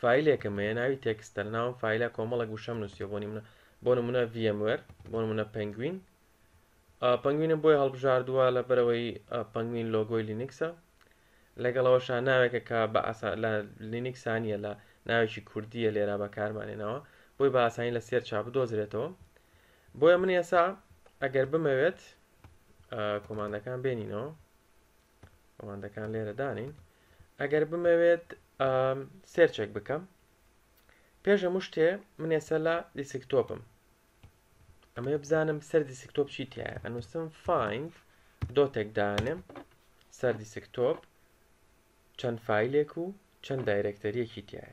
فایلێکم هەیە ناوی تێکستە لە ناوم فیلە کۆمەڵک وشەم نووسە بۆنی منە بۆ نمونە VMware بۆ منە پنگوین پنگوینم بۆی هەڵبژاردووە لە بەرەوەی پنگوین لۆگۆی لینکسە لەگەڵەوەشا ناوێکە کە بە لە لینکسانیە لە ناوێکی کوردیە لێرا بەکارمانێنەوە بۆی بە ئاسانی لە سێر چا بدۆزرێتەوە بۆیە من ئێسا ئەگەر بمەوێت کۆمانەکان بێنینەوە ڕوانندەکان لێرە دانین ئەگەر بمەوێت سێرچێک بکەم پێش هەموو شتێ من ێسە لە دیسکتۆپم ئەمە بزانم سەر دیسکتۆپ چی تایە ئەنووسم فیند دۆتێک دانم سەر دیسکتۆپ چەند فیلێک و چەند دایرەکتەریەکی تایە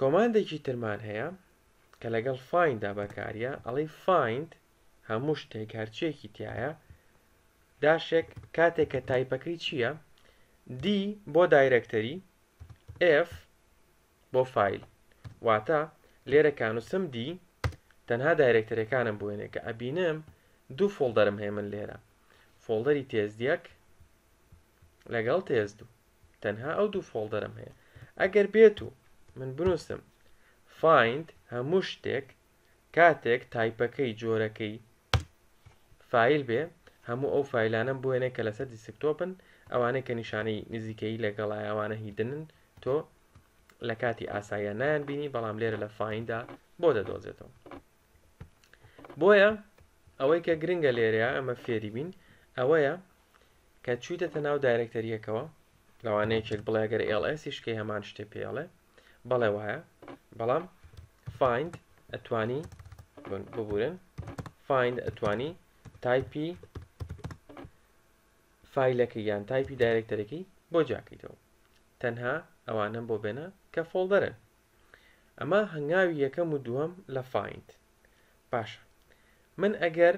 کۆماندێکی ترمان هەیە کە لەگەڵ find دا بەکاریە ئەڵی find هەموو شتێک هەرچیەکی تایە داشێک کاتێک کە تایپەکەی چییە D بۆ دایرەکتەری F بۆ فیل واتە لێرە کانوسم D تەنها دایرەکتەرەکانم بوێنێ کە ئەبینم دوو فۆڵدەرم هەیە من لێرە فۆڵدەری تێز دیەک لەگەڵ تێز دوو تەنها ئەو دوو فۆڵدەرم هەیە ئەگەر بێت و من بنووسم فیند هەموو شتێک کاتێک تایپەکەی جۆرەکەی فیل بێ هەموو ئەو فیلانم بۆێنێ کە لەسەر دیسکتۆپن ئەوانەی کە نیشانەی نزیکەی لەگەڵای ئەوانە هیدنن تۆ لە کاتی ئاساییان نایان بینی بەڵام لێرە لە فیندا بۆ دەدۆزێتەوە بۆیە ئەوەی کە گرنگە لێرەیە ئەمە فێری بین ئەوەیە کە چویتەتە ناو دایرەکتەریەکەوە لەوانەیە کێک بڵێ گەر ئێڵسیشکەی هەمان شتێ پێڵێ بەڵێ وایە بەڵام فیند ئەتوانی ببورن فیند ئەتوانی تایپی فیلەکە یان تایپی دایرەکتەرەکەی بۆ جاکەیتەوە تەنها ئەوانم بۆ بێنە کە فۆڵدەرن ئەمە هەنگاوی یەکەم و دووەم لە فایند باشە من ئەگەر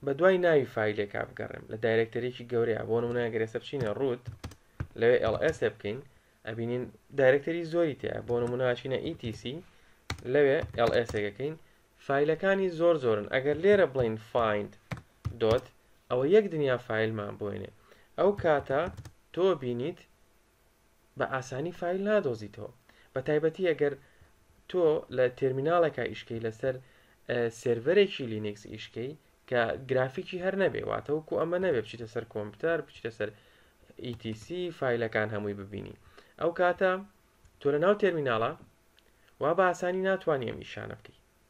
بە دوای ناوی فیلێکا بگەڕێم لە دایرەکتەرێکی گەورەیە بۆ نموناگەرێسە بچینە ڕوت لەوێ LS بکەین ئەبینین دایرەکتەری زۆری تیا بۆ نموناچینە ETC لەوێ LS ەکەین فیلەکانی زۆر زۆرن ئەگەر لێرە بڵین فیند دۆت ئەوە یەک دنیا فیلمان بۆێنێ ئەو کاتە تۆ بینیت بە ئاسانی فایل نادۆزیتەوە بە تایبەتی ئەگەر تۆ لە تێرمیناڵێکە ئیشکەی لەسەر سێرڤەرێکی لینکس ئیشکەی کە گرافیکی هەر نەبێ واتەوەکو ئەمە نەبێ بچیتە سەر کۆمپیوتەر بچیتە سەر ETC فیلەکان هەمووی ببینی ئەو کاتە تۆ لە ناو تێرمیناڵە وا بە ئاسانی ناتوانانی ئەم نیشانە بکەیت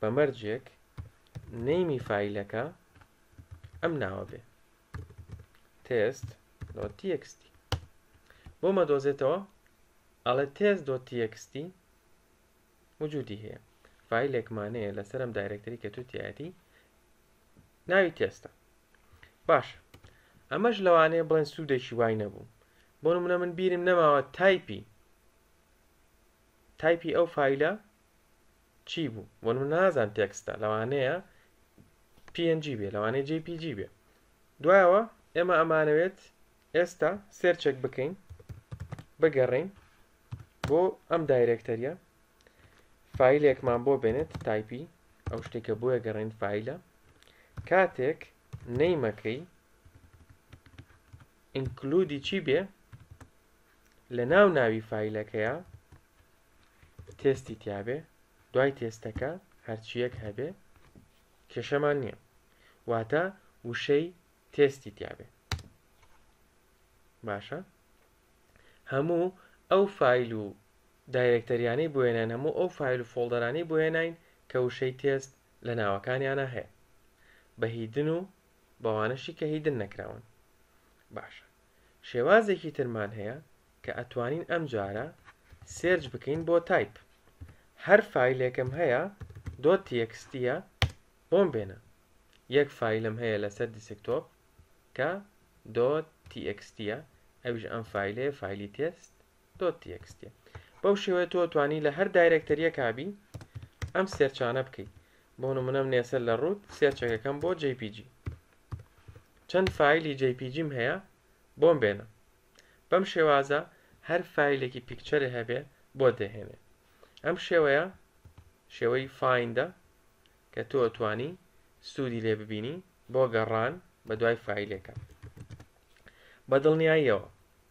بە مەرجێک نەیمی فیلەکە ئەم ناوە بێ تێست لۆ تیەکستی بۆ مەدۆزێتەوە ئەڵێ تێز دۆ تیەکستی وجودی هەیە فیلێکمانەیە لەسەرم دایرەکتری کە توتیایەتی ناوی تێستە باش ئەمەش لەوانەیە بڵێن سوودێکی وای نەبوو بۆ منە من بیرم نەماوە تایپی تایپی ئەو فیلە چی بوو بۆ من نازان تێکستە لەوانەیە پNG بێ لەوانەیە JPG بێ دوایەوە ئێمە ئەمانەوێت ئێستا سێرچێک بکەین بگەڕین بۆ ئەم دایرێکتەریە فیلێکمان بۆ بێنێت تایپی ئەو شتێکە بۆیە گەڕین فیلە کاتێک نەیمەکەی ئینکلودی چی بێ لە ناو ناوی فایلەکەیە تێستی تیاابێ دوای تێستەکە هەرچیەک هەبێ کێشەمان نییە واتە وشەی تێستی تیاابێ باشە هەموو ئەو فیل و دایرەکتەریانەی بۆێنان هەموو ئەو فیل و فۆڵدەرانی بۆێنین کە وشەی تێست لە ناوەکانیانە هەیە بەهیدن و بەوانەشی کە هیدن نەکراون باشە شێوازێکی ترمان هەیە کە ئەتوانین ئەم جارە سێرچ بکەین بۆ تایپ هەر فیلێکم هەیە دۆ تێکستیە بۆم بێنە یەک فیلم هەیە لەسەر دیسکتۆپ کە دۆ تیکستیە ئەویش ئەم فیلێ فیلی تێست دۆت تی ئێکس تی بەو شێوەیە تۆ توانی لە هەر دایرەکتەریەکا بی ئەم سێرچانە بکەیت بۆ نمونەم نێسەر لە ڕووت سێرچەکەکەم بۆ JPG چەند فیلی JPGم هەیە بۆم بێنە بەم شێوازە هەر فیلێکی پیکچەرێ هەبێ بۆ دەهێنێ ئەم شێوەیە شێوەی فایندە کە تۆ توانی سوودی لێ ببینی بۆ گەڕان بە دوای فیلەکە بە دڵنیاییەوە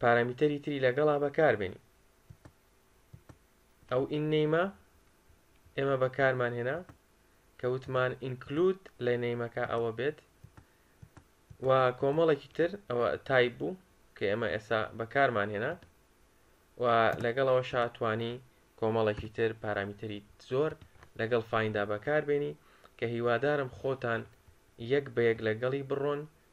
پارامیتەری تری لەگەڵا بەکاربێنی ئەو ئین نەیمە ئێمە بەکارمان هێنا کە وتمان ئینکلود لە نەیمەکە ئەوە بێت و کۆمەڵێکی تر ئەوە تایب بوو کە ئێمە ئێستا بەکارمان هێنا و لەگەڵەوە شاتوانی کۆمەڵێکی تر پارامیتەری زۆر لەگەڵ فایندا بەکاربێنی کە هیوادارم خۆتان یەک بە یەک لەگەڵی بڕۆن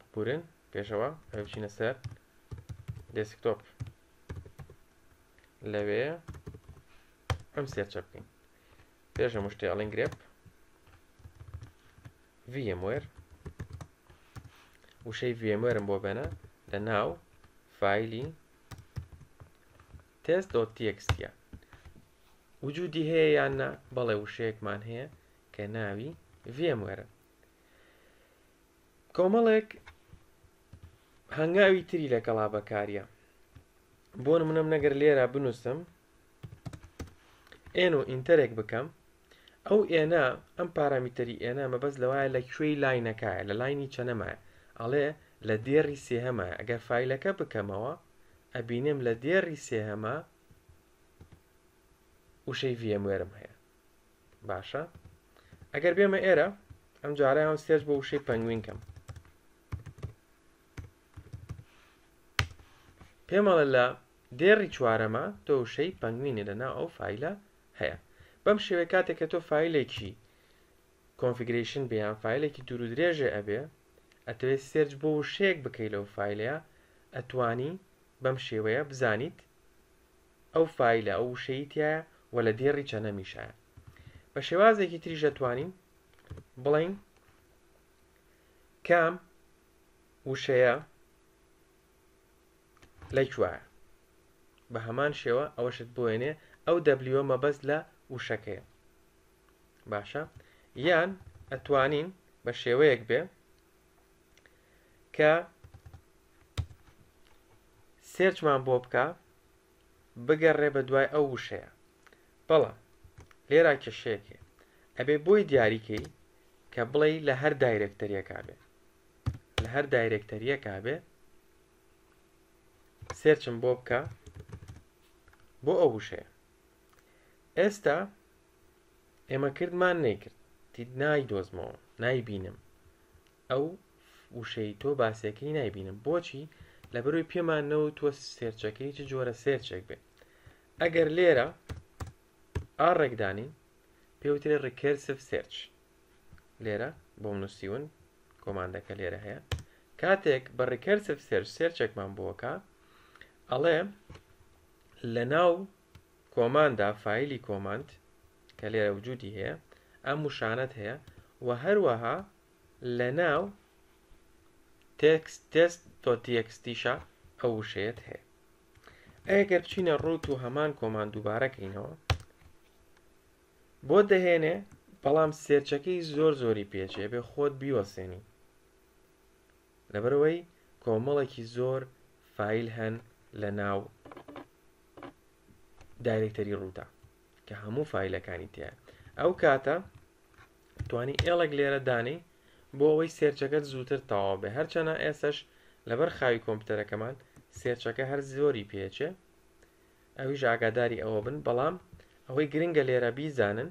ببورن پێشەوە ئەبێ بچینە سەر دێسکتۆپ لەوێ ئەم سێرچە بکەین پێش هەموو شتێ ئەڵین گرێپ VMware وشەی VMware بۆ بەنە لە ناو فایلی test.txt وجودی هەیە یان نا بەڵێ وشەیەکمان هەیە کە ناوی VMware کۆمەڵێک هەنگاوی تری لەگەڵا بەکاریە بۆ منم نەگەر لێرە بنووسم ئێن و ئینتەرێک بکەم ئەو ئێنە ئەم پارامیتەری ئێنە مەبەست لەوایە لە کوێی لاینەکایە لە لاینی چەنەمایە ئەڵێ لە دێڕی سێهەمە ئەگەر فیلەکە بکەمەوە ئەبینێم لە دێڕی سێهەمە وشەی ڤێموێرم هەیە باشە ئەگەر بێمە ئێرە ئەم جارە هەم سێرچ بۆ وشەی پەنگوین کەم پێمەڵە لە دێڕی چوارەمە تۆ وشەی پەنگوینە لە ناو ئەو فیلە هەیە بەم شێوەیە کاتێک کە تۆ فیلێکی کۆنفیگرشن بیان فیلێکی دوور و درێژێ ئەبێ ئەتەوێت سێرج بۆ وشەیەک بکەیت لەو فیلەیە ئەتوانی بەم شێوەیە بزانیت ئەو فایلە ئەو وشەی تایە و لە دێڕی چەنەمیشایە بە شێوازێکی تریش دەتوانین بڵین کام وشەیە لەکوایە بە هەمان شێوە ئەوەشت بۆێنێ ئەو دەبلیوە مەبەست لە وشەکەیە باشە یان ئەتوانین بە شێوەیەک بێ کە سێرچمان بۆ بکە بگەڕێ بە دوای ئەو وشەیە بەڵام لێرا کێشەیەکێ ئەبێ بۆی دیاریکەی کە بڵێ لە هەر دایرەکتەریەکە بێ لە هەر دایرەکتەریەکە بێ سێرچم بۆ بکە بۆ ئەو وشەیە ئێستا ئێمە کردمان نەیکرد تید نایدۆزمەوە نایبینم ئەو وشەی تۆ باسەکەی نایبینم بۆچی لە بەروی پێمان نەوە تۆ سێرچەکەی چ جۆرە سێرچێک بێت ئەگەر لێرە ئا ڕێکدانین پێوترێ ڕیکرسف سێرچ لێرە بۆ منوسیون کۆماندەکە لێرە هەیە کاتێک بە ڕیکرسف سێرچ سێرچێکمان بۆکە ئەڵێ لە ناو کۆماندا فایلی کۆماند کە لێرە وجودی هەیە ئەم وشانەت هەیە و هەروەها لە ناو تێکست تێست تۆ تێکستیشە ئەو وشەیەت هەیە ئەگەر بچینە ڕوت و هەمان کۆمان دووبارەکەینەوە بۆ دەهێنێ بەڵام سێرچەکەی زۆر زۆری پێچێ بێ خۆت بیوەسێنی لەبەرئەوەی کۆمەڵێکی زۆر فایل هەن لە ناو دایرکتەری ڕووتە کە هەموو فیلەکانی تێ ئەو کاتە توانی ئێڵێک لێرە دانی بۆ ئەوەی سێرچەکەت زووتر تەواو بێ هەرچەنە ئێسش لەبەر خاوی کۆمپیوتەرەکەمان سێرچەکە هەر زۆری پێچێ ئەویش ئاگاداری ئەوە بن بەڵام ئەوەی گرنگە لێرە بیزانن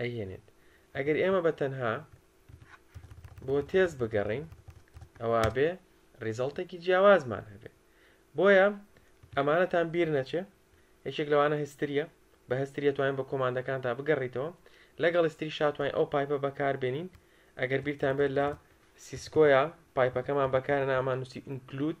ئەهێنێت ئەگەر ئێمە بە تەنها بۆ تێز بگەڕین ئەوە بێ ریزڵتێکی جیاوازمان هەبێ بۆیە ئەمانەتان بیر نەچێ یەکێک لەوانە هستریە بە هستریە توانین بە کۆماندەکان تا بگەڕیتەوە لەگەڵ استری شاتوانین ئەو پایپە بەکاربێنین ئەگەر بیرتان بێت لە سیسکۆیە پایپەکەمان بەکارە نامان نووسی ئینکلود